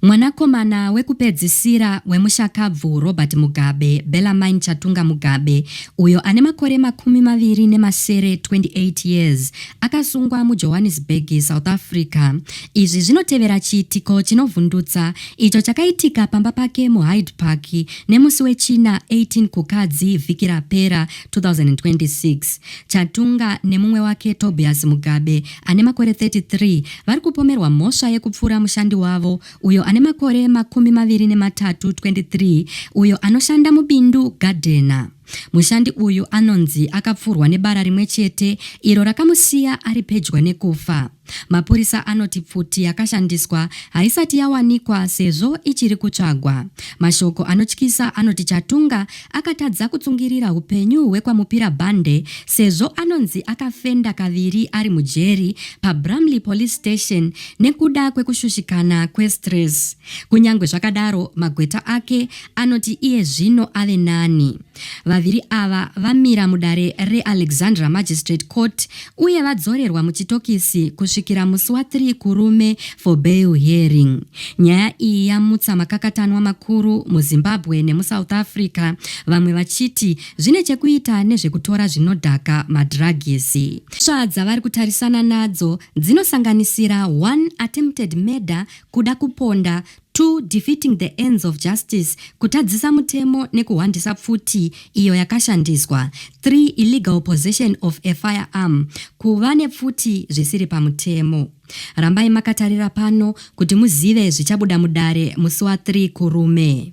Mwanakomana wekupedzisira wemushakabvu Robert Mugabe, Bellarmine Chatunga Mugabe, uyo ane makore makumi maviri nemasere, 28 years, akasungwa muJohannesburg, South Africa. Izvi zvinotevera chiitiko chinovhundutsa icho chakaitika pamba pake muHyde Park nemusi weChina 18 Kukadzi vhiki rapera, 2026. Chatunga nemumwe wake Tobias Mugabe ane makore 33 vari kupomerwa mhosva yekupfura mushandi wavo uyo ane makore makumi maviri nematatu 23 uyo anoshanda mubindu gadhena. Mushandi uyu anonzi akapfurwa nebara rimwe chete iro rakamusiya ari pedyo nekufa. Mapurisa anoti pfuti yakashandiswa haisati yawanikwa sezvo ichiri kutsvagwa. Mashoko anotyisa anoti Chatunga Akatadza kutsungirira hupenyu hwekwaMupira Bande sezvo anonzi akafenda kaviri ari mujeri paBramley Police Station nekuda kwekushushikana kwestress. Kunyangwe zvakadaro, magweta ake anoti iye zvino ave nani. Vaviri ava vamira mudare reAlexandra Magistrate Court uye vadzorerwa muchitokisi kusvikira musi wa 3 Kurume for bail hearing. Nyaya iyi yamutsa makakatanwa makuru muZimbabwe nemuSouth Africa, vamwe vachiti zvine chekuita nezvekutora zvinodhaka, madhiragisi. Mhosva dzavari kutarisana nadzo dzinosanganisira 1 attempted murder, kuda kuponda, 2 defeating the ends of justice, kutadzisa mutemo nekuhwandisa pfuti iyo yakashandiswa, 3 illegal possession of a firearm, kuva nepfuti zvisiri pamutemo. Rambai makatarira pano kuti muzive zvichabuda mudare musi wa 3 Kurume.